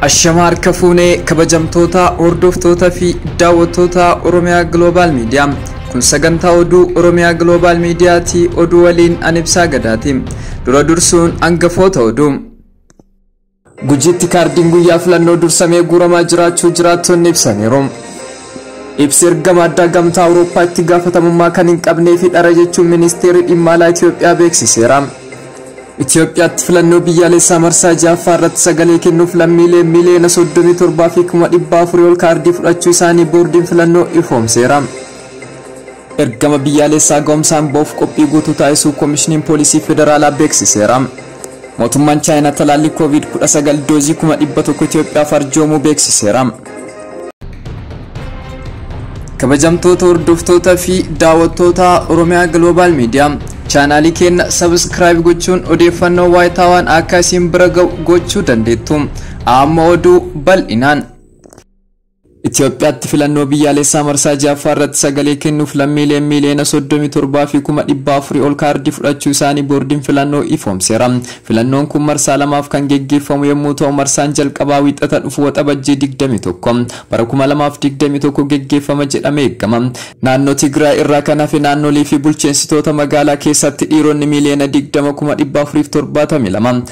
Ashamaa harka fuunee kabajamtoota hordoftoota fi daawwattoota Oromiyaa Global Media. Kun sagantaa oduu Oromiyaa Global Media ti oduu waliin an ibsaa gadaati. Dura dursuun hangafoota oduu. Gujiitti kaardiin guyyaa filannoo dursamee guuramaa jiraachuu jiraattonni ibsaniiru. Ibsi ergama addaa gamtaa Awurooppaa itti gaafatamummaa kan hin qabnee fi dhara jechuun ministeerri dhimma alaa Itoophiyaa beeksiseera. Itoophiyaatti filannoo biyyaalessaa marsaa ja'affaa irratti sagalee kennuuf lammiilee miiliyoona 37 fi 400,000 ol kaardii fudhachuu isaanii boordiin filannoo ifoomseera. Ergama biyyaalessaa ga'umsaan ba'uuf qophii guutuu taasisuu Komishiniin Poolisii Federaalaa beeksiseera. Mootummaan Chaayinaa talaallii Kooviid 19 doozii 100,000 Itoophiyaaf arjoomuu beeksiseera. Kabajamtoota hordoftoota fi daawwattoota Oromiyaa Global Media chaanaalii keenya sabiskiraayib gochuun odeeffannoo waayitaawaan akka isin bira ga'u gochuu dandeettu. Amma oduu bal'inaan. Itiyoophiyaatti filannoo biyyaalessaa marsaa 6ffaa irratti sagalee kennuuf lammiileen miiliyoona 37 fi kuma 400 ol kaardii fudhachuu isaanii boordiin filannoo ifoomseera. Filannoon kun marsaa lamaaf kan geggeeffamu yommuu ta'u marsaan jalqabaa wiixata dhufu waxabajjii 21 bara 2021 geggeeffama jedhamee eegama. Naannoo Tigraay irraa kan hafe naannolii fi bulcheensitoota magaalaa keessatti dhiironni miiliyoona 20 kuma 472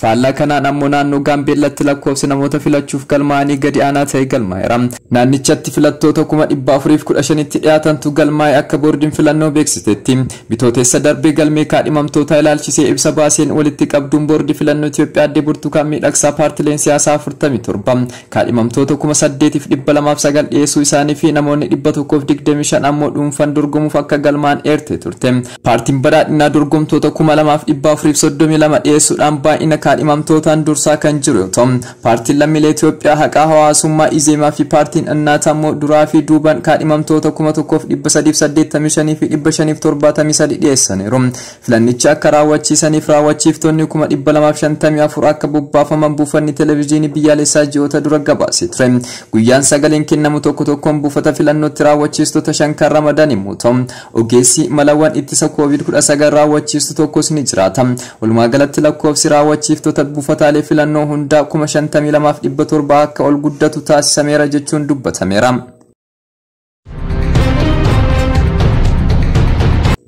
Faallaa kanaan ammoo naannoo Gaambeellaatti lakkoofsi namoota filachuuf galmaa'anii gadi aanaa ta'e galmaa'eera. Naannichatti filattoota kuma 415tti dhiyaatantu galmaa'e akka boordiin filannoo beeksisetti. Bitootessa darbe galmee kaadhimamtootaa ilaalchisee ibsa baaseen walitti qabduun boordii filannoo Itoophiyaa aadde Burtukaan Miidhagsaa paartileen siyaasaa 47 kaadhimamtoota 8,209 dhiyeessuu isaanii fi namoonni 125 ammoo dhuunfan dorgomuuf akka galmaa'an eertee turte. Paartiin Badhaadhinaa dorgomtoota 2432 dhiyeessuudhaan baay'ina kaadhimamtootaan dursaa kan jiru yoo ta'u, Paartiin Lammiilee Itoophiyaa Haqaa Hawaasummaa Izeemaa fi Paartiin Annaataa immoo duraa fi duubaan kaadhimamtoota 1385,573 dhiyeessaniiru. Filannicha akka raawwachiisaniif raawwachiiftonni 254,000 akka bobbaafaman buufanni Televiziyoonii Biyyaalessaa ji'oota dura gabaasee ture. Guyyaan sagaleen kennamu tokko tokkoon buufata filannootti raawwachiistota shan kan ramadan yommuu ta'u, Ogeessi malawwan ittisa Covid 19 raawwachiistu tokkos ni jiraata. Walumaa galatti lakkoofsi raawwachiiftota buufataalee filannoo hundaa 52,700 akka ol guddatu taasisameera jechuun dubbatameera.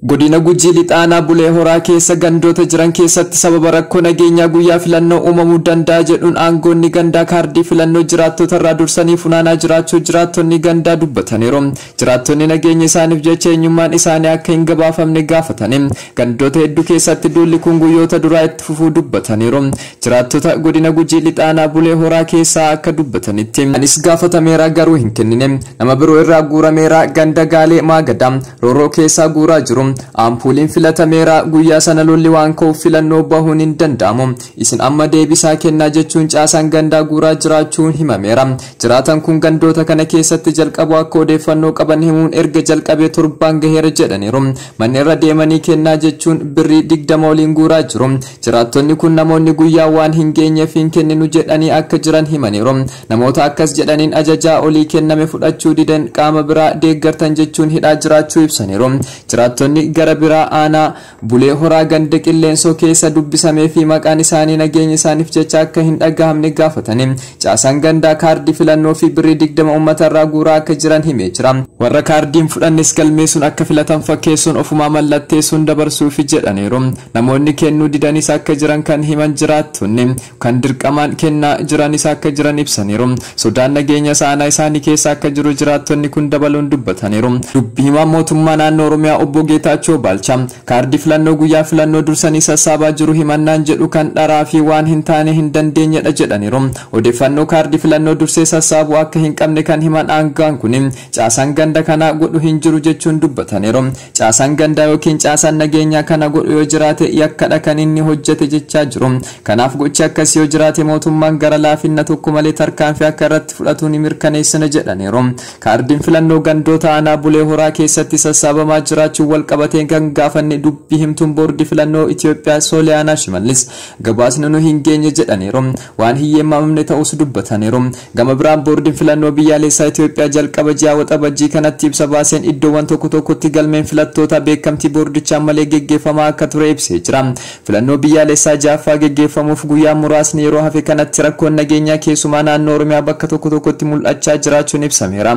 Godina Gujii Lixaanaa Bulee Horaa keessa gandoota jiran keessatti sababa rakkoo nageenyaa guyyaa filannoo uumamuu danda'a jedhuun aangoonni gandaa kaardii filannoo jiraattota irraa dursanii funaanaa jiraachuu jiraattonni gandaa dubbataniiru. Jiraattonni nageenya isaaniif jecha eenyummaan isaanii akka hin gabaafamne gaafatani gandoota hedduu keessatti duulli kun guyyoota duraa itti fufuu dubbataniiru. Jiraattota godina Gujii Lixaa Aanaa Bulee Horaa keessaa akka dubbatanitti. Anis gaafatameera garuu hin kennine. Nama biroo irraa guurameera ganda Gaalee Maagadaa Rooroo keessaa guuraa jiru. Aampuuliin filatameera. Guyyaa sana lolli waan ka'uuf filannoo bahuun hin danda'amu. Isin amma deebisaa kennaa jechuun caasaan gandaa guuraa jiraachuun himameera. Jiraataan kun gandoota kana keessatti jalqabuu akka odeeffannoo qaban himuun erga jalqabee torbaan gaheera jedhaniiru. Manni irra deemanii kennaa jechuun birrii digdama oliin guuraa jiru. Jiraattonni kun namoonni guyyaa waan hin geenyeef hin kenninu jedhanii akka jiran himaniiru. Namoota akkas jedhaniin ajajaa olii kenname fudhachuu diden qaama biraa deeggartan jechuun hidhaa jiraachuu ibsaniiru. Jiraattonni gara biraa aanaa Bulee Horaa ganda Qilleensoo keessa dubbisamee fi maqaan isaanii nageenya isaaniif jecha akka hin dhagahamne gaafatanii caasaan gandaa kaardii filannoo fi birrii 20 uummata irraa guuraa akka jiran himee jira. Warra kaardiin fudhannes galmeessuun akka filatan fakkeessuun ofumaa mallatteessuun dabarsuufi jedhaniiru. Namoonni kennuu didanis akka jiran kan himan jiraattonni kan dirqamaan kennaa jiranis akka jiran ibsaniiru. Sodaan nageenyas aanaa isaanii keessa akka jiru jiraattonni kun dabaluun dubbataniiru. Dubbi himaan mootummaa naannoo Oromiyaa obbo Geetaachoo Baalchaa kaardii filannoo guyyaa filannoo dursanii sassaabaa jiru himannaan jedhu kan dharaa fi waan hin taane hin dandeenyedha jedhaniiru. Odeeffannoo kaardii filannoo dursee sassaabuu akka hin qabne kan himan aanga'aan kun caasaan ganda kanaa godhu hin jiru jechuun dubbataniiru. Caasaan gandaa ykn caasaan nageenyaa kana godhu yoo jiraate yakkadha kan inni hojjete jechaa jiru. Kanaaf gochi akkasii yoo jiraate mootummaan gara laafinna tokko malee tarkaanfii akka irratti fudhatu ni mirkaneessina jedhaniiru. Kaardiin filannoo gandoota aanaa Bulee Horaa keessatti sassaabamaa jiraachuun walqabatee kan gaafanne dubbi himtuun boordii filannoo Itiyoophiyaa Sooliyaanaa Shimallis gabaasni nu hin geenye jedhaniiru. Waan hin yeemmamamne ta'uus dubbataniiru. Gama biraan Boordiin Filannoo Biyyaaleessaa Itoophiyaa jalqaba ji'a Waxabajjii kanatti ibsa baaseen iddoowwan tokko tokkotti galmeen filattootaa beekamtii boordichaan malee geggeeffamaa akka ture ibsee jira. Filannoo biyyaaleessaa 6ffaa geggeeffamuuf guyyaan muraasni yeroo hafe kanatti rakkoon nageenyaa keessumaa naannoo Oromiyaa bakka tokko tokkotti mul'achaa jiraachuun ibsameera.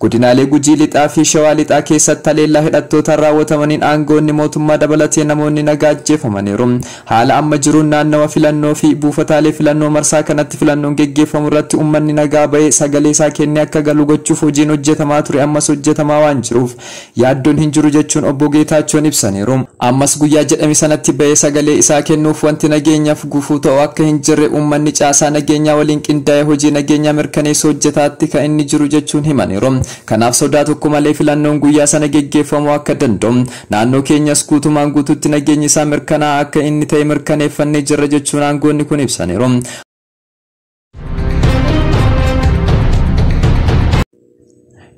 Godinaalee Gujii Lixaa fi Shawaa Lixaa keessatti haleellaa hidhattootaan raawwatamaniin aangawoonni mootummaa dabalatee namoonni nagaa ajjeefamaniiru. Haala amma jiruun naannawa filannoo fi buufataalee filannoo marsaa kanatti filannoon geggeeffamu irratti uummanni nagaa bahee sagalee isaa kennee akka galu gochuuf hojiin hojjetamaa ture ammas hojjetamaa waan jiruuf yaaddoon hin jiru jechuun Obbo Geetaachoon ibsaniiru. Ammas guyyaa jedhame sanatti bahee sagalee isaa kennuuf wanti nageenyaaf gufuu ta'u akka hin jirre uummanni caasaa nageenyaa waliin qindaa'ee hojii nageenyaa mirkaneessu hojjetaatti kan inni jiru jechuun himaniiru. Kanaaf sodaa tokko malee filannoon guyyaa sana geggeeffamuu akka danda'u Naannoo keenyas guutumaan guutuutti nageenyi isaa mirkanaa'aa akka inni ta'e mirkaneeffannee jirra jechuun aangoonni kun ibsaniiru.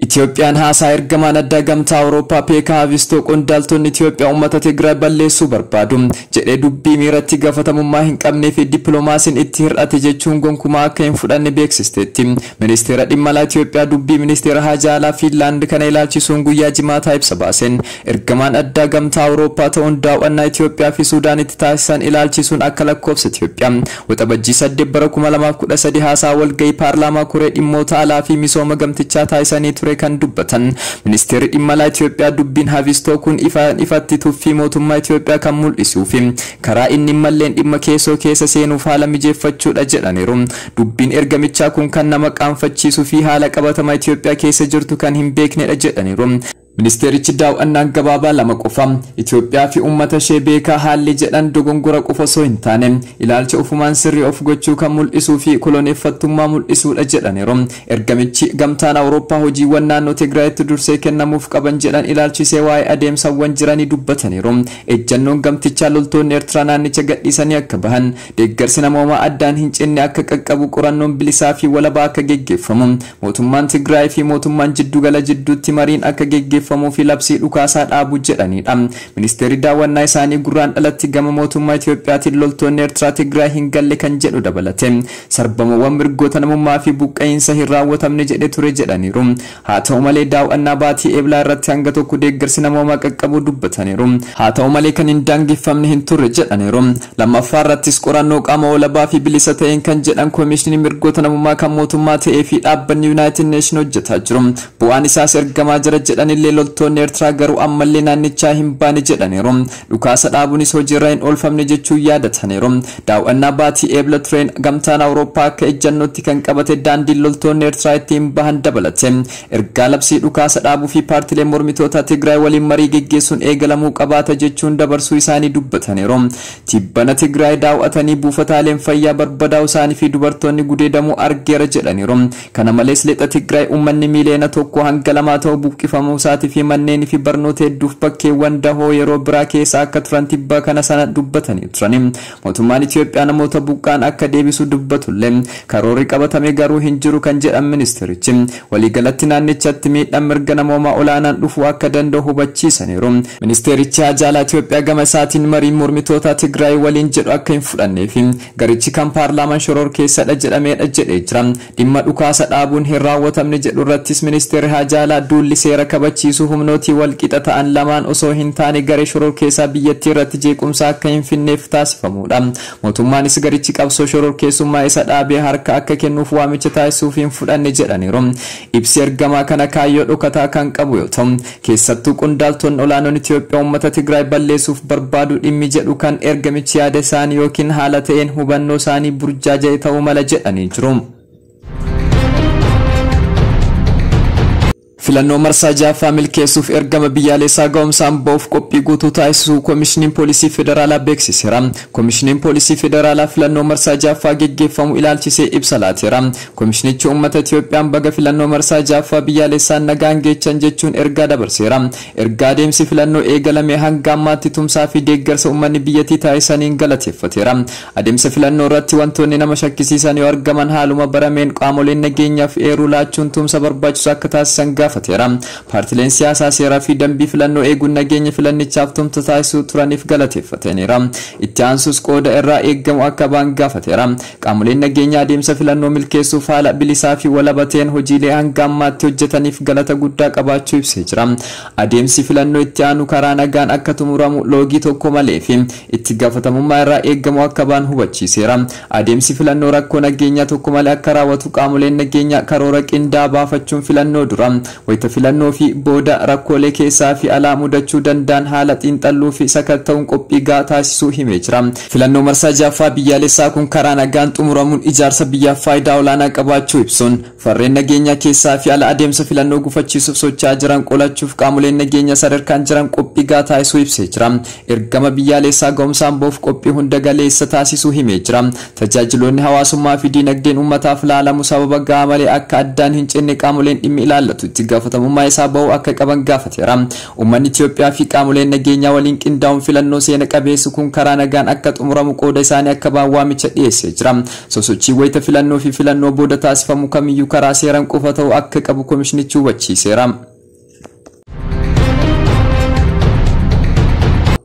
Itiyoophiyaan haasaa ergamaan addaa gamtaa Awurooppaa Peekaa Haavistoo qondaaltonni Itiyoophiyaa uummata Tigraay balleessuu barbaadu jedhee dubbii miiratti gaafatamummaa hin qabnee fi dippiloomaasiin itti hir'ate jechuun gonkumaa akka hin fudhanne beeksisteetti. Ministeera Dhimma Alaa Itiyoophiyaa Dubbii Ministeera Haajaa Alaa Fiinlaand kana ilaalchisuun guyyaa Jimaataa ibsa baaseen, Ergamaan Addaa Gamtaa Awurooppaa ta'uun daaw'annaa Itiyoophiyaa fi Suudaanitti taasisan ilaalchisuun akka lakkoofsa Itiyoophiyaa Waxabajjii 8 bara 2013 haasaa walga'ii paarlaamaa koree dhimmoota alaa fi misooma gamtichaa taasisanii ture kan dubbatan Ministeerri Dhimma Alaa Itiyoophiyaa dubbiin Havistoo kun ifaan ifatti tuffii mootummaa Itiyoophiyaa kan mul'isuu fi karaa inni hin malleen dhimma keessoo keessa seenuuf haala mijeeffachuu dha jedhaniiru. Dubbiin ergamichaa kun kan nama qaanfachiisuu fi haala qabatamaa Itiyoophiyaa keessa jirtu kan hin beeknedha jedhaniiru. Ministeerichi daaw'annaan gabaabaa lama qofa Itiyoophiyaa fi uummata ishee beekaa haalli jedhan dogongora qofa osoo hin taane ilaalcha ofumaan sirrii of gochuu kan mul'isuu fi koloneeffattummaa mul'isuudha jedhaniiru. Ergamichi Gamtaan Awurooppaa hojiiwwan naannoo Tigraayitti dursee kennamuuf qaban jedhan ilaalchisee waa'ee adeemsawwan jiranii dubbataniiru. Ejjannoon gamtichaa loltoonni Ertiraa naannicha gadhiisanii akka bahan, Deeggarsi namoomaa addaan hin cinne akka qaqqabu, qorannoon bilisaa fi walabaa akka geggeeffamu, mootummaan Tigraay fi mootummaan jiddu gala jidduutti mariin akka geggeeffamuu fi labsii dhukaasaa dhaabu jedhanii dha. Ministeerri daawwannaa isaanii Gurraandhalatti gama mootummaa Itoophiyaatiin loltoonni Ertiraa Tigraay hin galle kan jedhu dabalatee sarbamuuwwan mirgoota namummaa fi buqqa'iinsa hin raawwatamne jedhe ture jedhaniiru. Haa ta'u malee daaw'annaa baatii Eblaa irratti hanga tokko deeggarsi namoomaa qaqqabuu dubbataniiru. Haa ta'u malee kan hin daangeffamne hin turre jedhaniiru. Lammaffaa irrattis qorannoo qaama walabaa fi bilisa ta'een kan jedhan Komiishinii Mirgoota Namoomaa kan mootummaa ta'ee fi dhaabbanni Yunaayitid Neeshin hojjetaa jiru. Bu'aan isaas ergamaa jira jedhanillee loltoonni Ertiraa garuu ammallee naannichaa hin baane jedhaniiru. Dhukaasa dhaabunis hojiirra hin oolfamne jechuun yaadataniiru. Daaw'annaa baatii Eebla tureen Gamtaan Awurooppaa akka ejjannootti kan qabate daandiin loltoonni Eertiraa ittiin bahan dabalate ergaa labsii dhukaasa dhaabuu fi paartilee mormitootaa Tigraay waliin marii geggeessuun eegalamuu qabaata jechuun dabarsuu isaanii dubbataniiru. Tibbana Tigraay daaw'atanii buufataaleen fayyaa barbadaa'uu isaanii fi dubartoonni gudeedamuu argeera jedhaniiru. Kana malees Lixa Tigraay uummanni miiliyoona tokkoo hanga lamaa ta'u buqqifamuusaatii fi manneenii fi barnoota hedduuf bakkeewwan dahoo yeroo biraa keessa akka turan tibba kana sana dubbatanii turani. Mootummaan Itiyoophiyaa namoota buqqa'an akka deebisu dubbatullee karoorri qabatame garuu hin jiru kan jedhan ministeerichi, waliigalatti naannichatti miidhaan mirga namoomaa olaanaan dhufuu akka danda'u hubachiisaniiru. Ministeerichi Haajaa Alaa Itiyoophiyaa gama isaatiin mariin mormitootaa Tigraay waliin jedhu akka hin fudhannee fi Garichi kan paarlaaman shororkeessadha jedhameedha jedhee jira. Dhimma dhukaasa dhaabuun hin raawwatamne jedhu irrattis Ministeerri Haajaa Alaa duulli seera kabachiisuu humnootii walqixa ta'an lamaan osoo hin taane garee shororkeessaa biyyattii irratti jeequmsa akka hin finneef taasifamuudha. Mootummaanis garichi qabsoo shororkeessummaa isa dhaabee harka akka kennuuf waamicha taasisuuf hin fudhanne jedhaniiru. Ibsi ergamaa kana kaayyoo dhokataa kan qabu yoo ta'u, keessattuu qondaaltonni olaanoon Itoophiyaa uummata Tigraay balleessuuf barbaadu dhimmi jedhu kan ergamichi yaada isaanii ykn haala ta'een hubannoo isaanii burjaaja'e ta'uu mala jedhanii jiru. Filannoo marsaa ja'affaa milkeessuuf ergama biyyaalessaa ga'umsaan ba'uuf qophii guutuu taasisuu Komishiniin Poolisii Federaalaa beeksiseera. Komishiniin Poolisii Federaalaa filannoo marsaa ja'affaa geggeeffamu ilaalchisee ibsa laateera. Komishinichi uummata Itiyoophiyaan baga filannoo marsaa 6ffaa biyyaalessaan nagaan geechan jechuun ergaa dabarseera. Erga adeemsi filannoo eegalamee hanga ammaatti tumsaa fi deeggarsa uummanni biyyattii taasisaniin galateeffateera. Adeemsa filannoo irratti wantoonni nama shakkisiisan yoo argaman haaluma barameen qaamoleen nageenyaaf eeruu laachuun tumsa barbaachisu akka taasisan gaafateera. Paartileen siyaasaa seeraa fi dambii filannoo eeguun nageenya filannichaaf tumsa taasisuu turaniif galateeffataniira. Itti aansuus qooda irraa eegamu akka ba'an gaafateera. Qaamoleen nageenyaa adeemsa filannoo milkeessuuf haala bilisaa fi walaba ta'een hojiilee hanga ammaatti hojjetaniif galata guddaa qabaachuu ibsee jira. Adeemsi filannoo itti aanu karaa nagaan akka xumuramu, loogii tokko malee fi itti gaafatamummaa irraa eegamu akka ba'an hubachiiseera. Adeemsi filannoo rakkoo nageenyaa tokko malee akka raawwatu qaamoleen nageenyaa karoora qindaa'aa baafachuun filannoo dura Wayita filannoo fi booda rakkoolee keessaa fi alaa mudachuu danda'an haala xiinxalluu fi sakatta'uun qophii gahaa taasisuu himee jira. Filannoo marsaa 6ffaa biyyaalessaa kun karaa nagaan xumuramuun ijaarsa biyyaaf faayidaa olaanaa qabaachuu ibsuun, farreen nageenyaa keessaa fi ala adeemsa filannoo gufachiisuuf socho'aa jiran qolachuuf qaamoleen nageenyaa sadarkaan jiran qophii gahaa taasisuu ibsee jira. Ergama biyyaaleessaa ga'umsaan ba'uuf qophii hunda galeessa taasisuu himee jira. Tajaajiloonni hawaasummaa fi diinagdeen uummataaf laalamu sababa ga'aa malee akka addaan hin cinne qaamoleen dhimmi ilaallatu itti gaafatamummaa isaa ba'uu akka qaban gaafateera. Uummanni Itiyoophiyaa fi qaamoleen nageenyaa waliin qindaa'uun filannoo seena qabeessi kun karaa nagaan akka xumuramu qooda isaanii akka ba'an waamicha dhiyeessee jira. Sosochiin wayita filannoo fi filannoo booda taasifamu kamiyyuu karaa seeran qofa ta'uu akka qabu komishinichi hubachiiseera.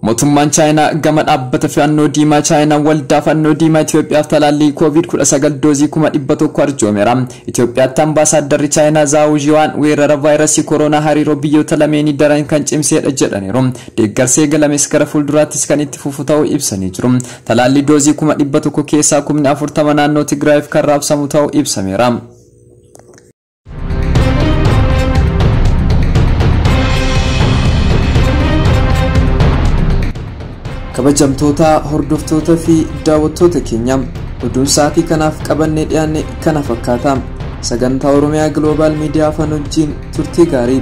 Mootummaan Chaayinaa gama dhaabbata fannoo diimaa Chaayinaa waldaa fannoo diimaa Itoophiyaaf talaallii COVID-19 doozii 100,000 arjoomeera. Itoophiyaatti ambaasaaddarri Chaayinaa Zaawu Zhiwaan weerara vaayirasii kooroonaa hariiroo biyyoota lameenii daran kan cimseedha jedhaniiru. Deeggarsi eegalames gara fuulduraattis kan itti fufu ta'uu ibsanii jiru. Talaallii doozii 100,000 keessaa 40,000 naannoo Tigraayiif kan raabsamu ta'uu ibsameera. kabajamtoota hordoftoota fi daawwattoota keenya oduun sa'aatii kanaaf qabannee dhiyaanne kana fakkaata sagantaa oromiyaa gloobaal miidiyaa afaan wajjiin turtii gaarii